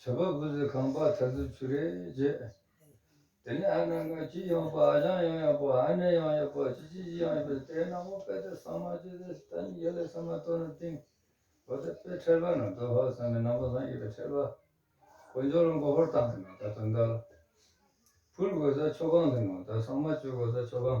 བྱ་བ་བུ་ཟི་ཁང་པ་ཐ་ཟི་ཆུ་རེ་བརྒྱད། དེ་ནས་ཨ་ནང་གི་ཅི་ཡང་པ་ཨ་ཞང་ཡང་ཡང་པོ་ཨ་ནེ་ཡང་ཡང་པོ་ཅི་ཅི་ཅི་ཡང་ཡང་པོ་དེ་ནང་པོ་པད་དེ་སངས་མ་ཅི་དེ་ད་ནི་ཡེ་ལེ་སངས་མ་ཏོ་ནི་ཏིང་བོ་དེ་པད་ཁྲེལ་པ་ནང་དོ་ཧོ་སངས་མི་ནང་པོ་སངས་ཡེ་པད་ཁྲེལ་པ་གོ་འཇོ་ལོ་མགོ་ཧོར་ཏང་གི་ནང་ད་དོ་འདར་ཕུལ་གོ་ས་ཆོ་གང་གི་ནང་ད་སངས་མ་ཅོས་གོ་ས་ཆོ་གང།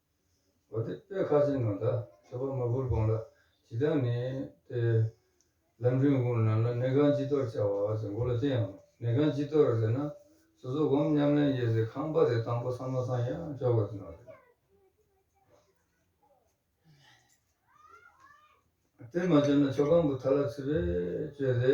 བ་དེ་དཔེ་ཁ་ཅིག་ནང་དང་ཁྱད་པར་མ་བུར་དགོངས་ལ་ཇི་ལྟར་ནི་སྟེ། ལམ་འབྲིང་དགུ་རྣམས་ལ་གནས་ཁང་སྤྱི་གཏོར་བྱ་བ་ཟེར་མགོ་ལ་དེ་ཡང་གནས་ཁང་སྤྱི་གཏོར་ཟེར་ན་སོ་སོ་བསྒོམ་ཉམས་ལེན་ཡེ་ཟེར་ཁང་པ་དེ་དང་པོ་སང་མ་སང་ཡང་ཅོག་གོ་དེ་ནང་རེད། དེར་མ་བྱོན་ན་ཆོ་ག་འབུ་ཐ་ལ་ཚིལ་བས་བཅོས་ཏེ།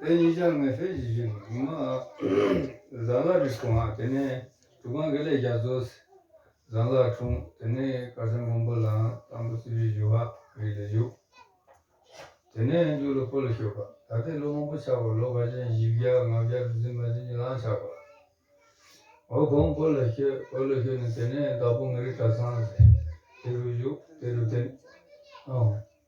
དེ་ཉིད་ཀྱང་ངེས་ཤེས་ཀྱི་གཞི་ནི་མ། བཟང་ལ་རིགས་གོང་དེ་ནས་དྲུག་གང་གཱའི་ལས་རྒྱ་མཚོ། བཟང་ལ་འཁྲུངས་དེ་ནས་ཀ་ཤ་མགོན་པོ་ལའང་དང་པོ་རྩིས་པའི་བཞུགས་པ་རིགས་ལས་བཞུགས། དེ་ནས་འཇུག་ལ་འཁོར་ལོ་ཤོད་པ་ད་ལྟའི་ལོ་མང་པོ་ཆགས་པ་ལོ་བར་ཅན་བཞི་བརྒྱ་ལྔ་བརྒྱ་རུ་འཛིན་པ་འདི་ཉིད་ལའང་ཆགས་པ། འོག་གོང་འཁོར་ལོ་ཤོད་འཁོར་ལོ་ཤོད་ནས་དེ་ནས་བདག་པོ་ངེས་རིགས་གྲྭ་ཚང། དེ་རུ་བཞུགས་དེ་རུ་བསྟེན།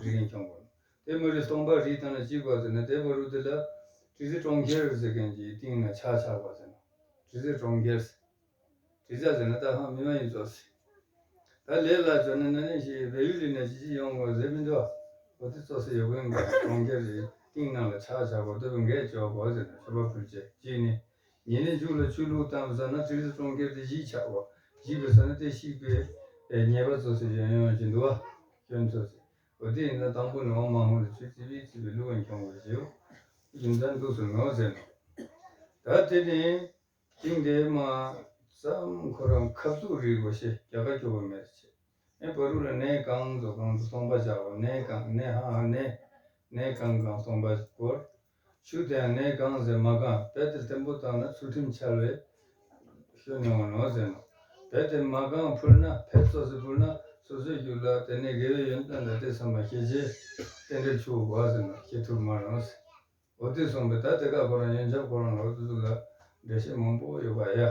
རིགས་ཡིན་ཀྱང། དེ་མི་རིགས་སྟོང་པ་རིགས་དང་ལ་གཅིག་པ་ཟེར་ན་དེ་བ་རུ་དེ་ལ། དྲི་ཟའི་གྲོང་ཁྱེར་ཟེར་མཁན་གྱི་སྟེང་ན་ཆགས་ཆགས་པ་ཟེར་ན། དྲི་ཟའི་གྲོང་ཁྱེར། དྲི་ཟ་ཟེར་ན་ད་ཧང་མི་མ་ཡིན་ཙོ་སི། ད་ལས་ལ་ཙོ་ན་ན་ནི་ཞི་བའི་ཡུལ་ལི་ན་ཅི་ཅི་ཡོང་གོ་ཟེར་མི་འདུག་ཨ། བོ་དེ་ཙོ་སི་ཡོ་གོན་གྱི་གྲོང་ཁྱེར་རིགས་སྟེང་ན་ལ་ཆགས་ཆགས་པ་དོད་པོ་འགས་བཅོས་གོ་ཟེར་ན་ཞོ་པ་ཕུལ་བྱས་ཀྱིས་ནི། ཉེ་གནས་འཇུག་ལ་ཆོས་ལུགས་དང་བཟང་ན་ཏིལ་ཟ་གྲོང་ཁྱེར་དེ་གཞིས་ཆགས་བ། གཞིས་པའི་ས་ན་ཏེ་གཤིག་པའི་ཉེས་པ་ཚོ་ཟེར་ཡོན་ཡོན་གྱི་འདུ་བ། སྐྱོན་ཚོ་ཟེར། འོ་དེ་ཡིན་ན་དང་པོ་ནས་འོ་མ་ཧོན་རི་ཆུ་རྩི་བའི་རྩི་བའི་ལུགས་ཨེ་འཁྱོང་བར་བྱེའོ། རྒྱུ་མཚན་འདུག་ཟེར་ནོ་ཟེར་ནོ། ད་དེ་ནས་དེང་འདས་མ་ཙམ་ཁོ་རང་ཁབ་ཚུགས་རིགས་བ་ཞེས་རྒྱ་གར་སྐྱོ་བ་མེད་རེ་བྱེད། ཨེ་བ་རུ་ལ་གནས་གང་ཚོ་གང་དུ་སོང་པ་བྱ་བ་གནས་གང་གནས་ཧ་ཧ་གནས་གནས་གང་གང་སོང་པ་བོར། ཆུ་དེའང་ངས་བཀང་ཟེར་མ་བཀང་བལ་དེར་བརྟན་པོ་བཏང་ན་ཚུལ་ཁྲིམས་འཆལ་བས། ཤོད་མྱོང་བ་ནོར་ཟེར་ནོ། བལ་དེ་མ་བཀང་ཕུལ་ན་བལ་སོ་སོས་ཕུལ་ན་སོ་སོས་རྒྱུག་ལ་དེ་ནས་དགེ་བའི་ཡོན་ཏན་དང་དེ་འཚམས་པ་ཤེས་རྗེས། རྟེན་འབྲེལ་ཆུ་བོ་བག་ཟེར་ནོ་ཤེས་ཐུབ་མ་རུང། འོ་དེ་སོང་པས་ད་དེ་ག་ཁོ་རང་ཡོན་ཆབ་ཁོ་རང་ལོག་དུས་ཚུར་ལ་འགྲེལ་བཤད་མང་པོ་ཡོད་པ་ཡ།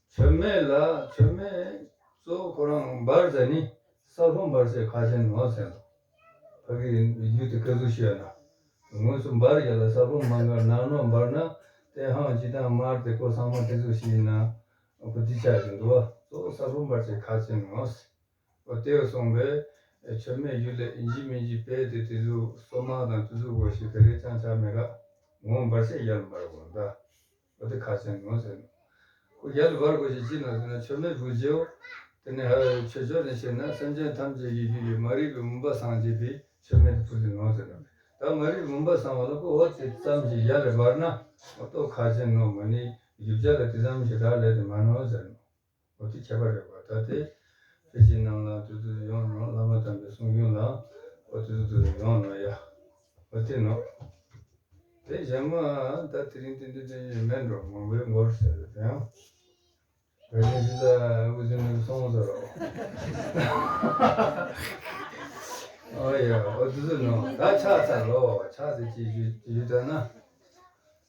ཚོད་མེད་ལ་ཚོད་མེད་གཙོ་བོ་ཁོ་རང་འབར་རྫས་ནི་ས་ལྷོ་འབར་རྫས་ཁ་ཆེ་ནོར་ཟེར་འདུག་ཕ་གི་ཡུལ་དུ་སྐད་གཟུགས་ཤོད་ན་ངོས་སུ་འབར་རྒྱ་ལ་ས་ལྷོ་མ་འགར་ནག་ནོར་འབར་ནག་ཏེ་ཧང་སྐྱིད་དང་དམར་ཏེ་ཀོ་སངས་མ་ཏེ་གཟུགས་ཤིག་ཡིན་ན་གོ་བདེ་ཆགས་ཀྱི་འདུག་གཙོ་བོ་ས་ལྷོ་འབར་རྫས་ཁ་ཆེ་ནོར་ཟེར་བ་དེའོ་གསུངས་པས་ཚོད་མེད་ཡུལ་ལས་འཇིགས་མི་འཇིགས་དཔེ་དེ་དེ་གཟུགས་སོ་མང་དང་དེ་གཟུགས་གོ་ཞིག་ག་རེ་ཅང་ཆགས་མེད་ཀ་ངོ་འབར་སེ་ཡར་འབར་གོ་ཟླ། བུ་དེ་ཁ་ཆེན་ནོ་ཟེར། སྐུ་རྒྱལ་དུ་བར་བསྐོར་ཞིང་ཅི་ནོ་ཟེར་ན་མཆོད་མེ་བུས་རྗེའོ། དེ་ནས་ཧཱུྃ་ཡིག་ཆོས་སྦྱོར་ནས་བྱས་ན་སེམས་ཅན་ཐམས་ཅད་ཀྱི་རྒྱུད་ཀྱི་མ་རིག་པའི་མུན་པ་སངས་རྒྱས་ཏེ་མཆོད་མེ་དེ་ཕུལ་ཏེ་ནོ་ཟེར། དག་མ་རིག་པའི་མུན་པ་སངས་བ་ལ་སྐུ་ཧོ་དེ་ཙམ་གྱིས་ཡར་ལས་འབར་ན། སྟོབས་ཁ་ཆེན་ནོ་མ་ནི་རྒྱུ་བྱ་ལ་དེ་ཙམ་གྱིས་རག་ལས་ཏེ་མ་ནོ་ཟེར། འོ་དེ་ཁྱད་པར་རེད་བ་ད་དེ། ཕལ་ཆེར་རྣམས་ལ་དུས་དུ་ཡོང་རུང་བླ་མ་དམ་པའི་གསུང་རྒྱུན་ལ། འོ་དེ་དུས་དུ་ཡོང་ནོ་ཡ། འོ་དེ་ནོ། དེ་གཞན་མ། ད་དེ་རིང་དེ་འདི་དྲན་བཞིན་མལ་འགྲོ་མང་པོའི་མགོར་ཟེར་བའི་དོན་ཡང། བོད་རྒྱལ་སྤྱི་ལྟར་དབུ་འཛིན་མི་དགོས་སོང་ཚར་རོ། འོ་ཡ་འོ་དེ་དུས་ནོ་ད་ཆགས་ཚར་རོ་ཆགས་ཚེ་ཅི་ཞུ་ཞུ་ད་ན།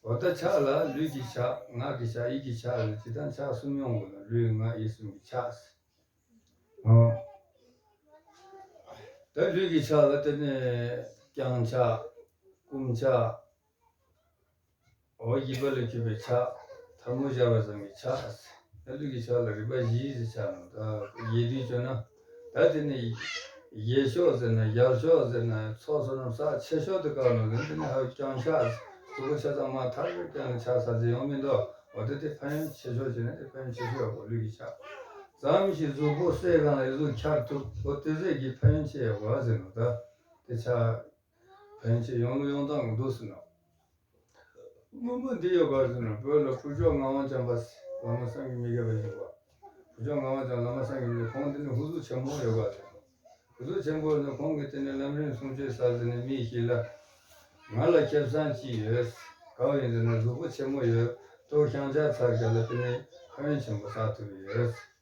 བ་ལྟར་ཆགས་ལ་ལུས་ཀྱི་ཆགས་ངག་གི་ཆགས་ཡིད་ཀྱི་ཆགས་ལ་ཇི་ལྟར་ཆགས་གསུམ་མྱོང་བ་ལ་ལུས་ངག་ཡིད་གསུམ་གྱི་ཆགས། ད་ལུས་ཀྱི་ཆགས་ལ་དེ་ནས་བརྐྱང་ཆགས། བསྐུམ་ཆགས། འོ་བརྒྱིད་པ་ལས་གྱུར་པའི་ཆགས། འཐབ་མོ་སྦྱར་བ་ཙམ་གྱི་ཆགས། ད་ལུས་ཀྱི་ཆགས་ལ་རིག་པ་བཞིའི་ཆགས། ཡེ་དུས་སྤྱོད་ན། ད་དེ་ནི། ཡེ་ཤོག་ཟེར་ན་ཡར་ཤོག་ཟེར་ན་ཚོགས་ཟོར་རྣམས་ཚགས་ཆེ་ཤོག་ཏུ་བཀག་ནོ་དེ་ནི་ཧ་ཀྱང་ཆགས། གཟུགས་པོ་ཆ་ཚང་མ་ཐག་རིང་སྐྱོན་ལ་ཆགས་ས་ཟིན་ཡོང་མི་འདོད། འོ་ད་དེ་ཕན་ཡོན་ཆེ་ཤོག་བྱས་ན་དེ་ཕན་ཡོན་ཆེ་ཤོས་ཡག་པོ་ལུས་ཀྱི་ཆགས། ཙམ་ཞིག་གཟུགས་པོ་གསལ་གང་ལ་ཡོད་གཟུགས་འཁྱར་ཐུབ་འོ་དེ་ཟས་ཀྱི་ཕན་ཡོན་ཆེ་ཡག་པོ་ཨ་ཟེར་ནོ་ད་དེ་ཆགས། བོན་གྱི་ཡོངས་གླུ་ཡོངས་དག་ངོ་བསྡུ་ཟིན་ནོ། དངོས་པོ་འདི་ཡོད་གར་ཟིན་ནོ་བོད་ལ་ཕུར་ལྕོག་ངག་དབང་བྱམས་པ་སེ་བླ་མ་སངས་རྒྱས་མི་དགེ་བའི་བཞུགས་པ། ཕུར་ལྕོག་ངག་དབང་བྱམས་བླ་མ་སངས་རྒྱས་མི་དགེ་ཁོང་འདི་ནི་ཧུ་ཟུ་ཆེན་པོར་ཡོད་གར་ཟིན་ནོ། ཧུ་ཟུ་ཆེན་པོར་ནི་ཁོང་གིས་དེ་ནི་ལམ་རིམ་གསུང་ཆོས་ཟ་ཟིན་ནས་མིས་ཤི་ལ། ང་ལ་ཁེབས་བཟང་གཅིག་ཡོད། གའུ་ཡི་འདི་ན་གཟུགས་པོ་ཆེན་མོ་ཡོད། ཏོག་ཤང་ལྕགས་ཚར་བཞག་ལ་དེ་ནི་ཁ་བོན་ཆེན་པོ་ཟ་ཐུབ་ཡོད།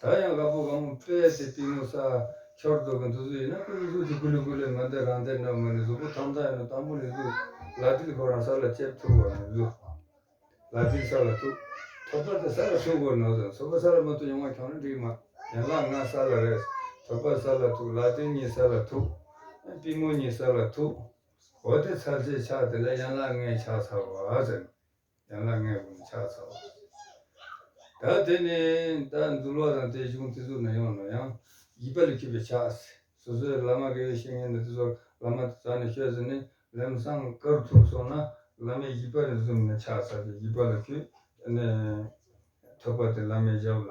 ད་ཡང་གླ་ཕོགས་གང་སྤེལ་ཡ་དེ་སྤེལ་མོ་ས། འཁྱོར་རྡོ་གི་འདུ་གཟུགས་ཡིན་ན་ཀུན་གཟུགས་དེ་ཀུ་ལུ་ཀུ་ལུ་མི་འདི་རང་འདི་ནོ་མི་ནི་གཟུགས་པོ་ཐམས་ཚ་ཡིན་ནོ་དང་པོ་ནི་གཟུགས། ལ་ཏིལ་ཁོ་རང་ས་ལ་ལྕེབས་ཐུག་གོ་རང་གཟུགས། ལ་ཏིལ་ས་ལ་ཐུག། ཐོད་པ་དེ་ས་ལ་ཐུག་གོ་ནོ་ཟེར་ཐོད་པ་ས་ལ་མི་ཐུག་ཡོང་བ་ཁྱོང་རེ་འགྲིག་མ། ཡན་ལག་ལྔ་ས་ལ་རེད། ཐོད་པ་ས་ལ་ཐུག་ལ་ཏིལ་གཉིས་ས་ལ་ཐུག། སྤེལ་མོ་གཉིས་ས་ལ་ཐུག། འོ་དེ་ཚར་ཚེ་ཆགས་དེ་ལ་ཡན་ལག་ལྔའི་ཆགས་ཚར་བ་ཟེར། ཡང་ན་མངལ་སྒོ་ནས་ཆགས་ཚར་བ། ད་དེ་ནི་ད་འཛུལ་བ་དང་དེ་གཞུང་དེ་ཚུགས་ན་ཡོང་ནོ་ཡང་བགྱིས་པ་ལས་འཁྱུད་པའི་ཆགས་སོ་སོའི་བླ་མ་དགེ་བའི་བཤེས་གཉེན་ནི་དེ་ཚོར་བླ་མ་དེ་ད་ནི་ཤོད་ཟེར་ནས་ལེམ་སང་དཀར་ཐུབ་སོང་ན་བླ་མའི་བགྱིས་པ་རེ་ཟུང་ནས་ཆགས་ཚར་ཏེ་བགྱིས་པ་ལ་འཁྱུད་ནས་ཐོད་པ་དེ་བླ་མའི་ཞབས་ལ་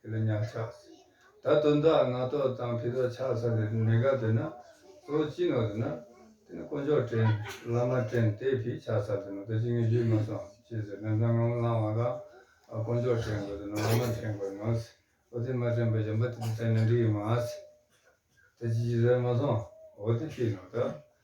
དེ་ལ་ཉག་ཆགས་ཟེར། ད་དོན་དག་ང་ལྟོས་དང་ཕི་ལྟོས་ཆགས་ས་ལེ་རུ་ནེ་ག་དོན་ན་ཟོ་ཅི་ནོ་རེ་ན། དེ་ནི་དཀོན་མཆོག་དྲན་བླ་མ་དྲན་དེ་ཕི་ཆགས་ས་དོན་ན་ད་ཅི་ངས་ཡུལ་མ་སོང་ཅི་ཟེར་ན་ད་ང་མོ་ལང་བ་ལང་དཀོན་མཆོག་དྲན་དགོས་དོན་ན་བླ་མ་དྲན་དགོས་ནོ་ཟེར་འོ་དེ་མ་དྲན་པ་གཞན་པ་དེ་དྲན་ན་འགྲིག་ཡོད་མ་ཟེར། ད་ཅི་ཅི་ཟེར་མ་སོང་འོ་དེ་ཕི་ནོ་ད།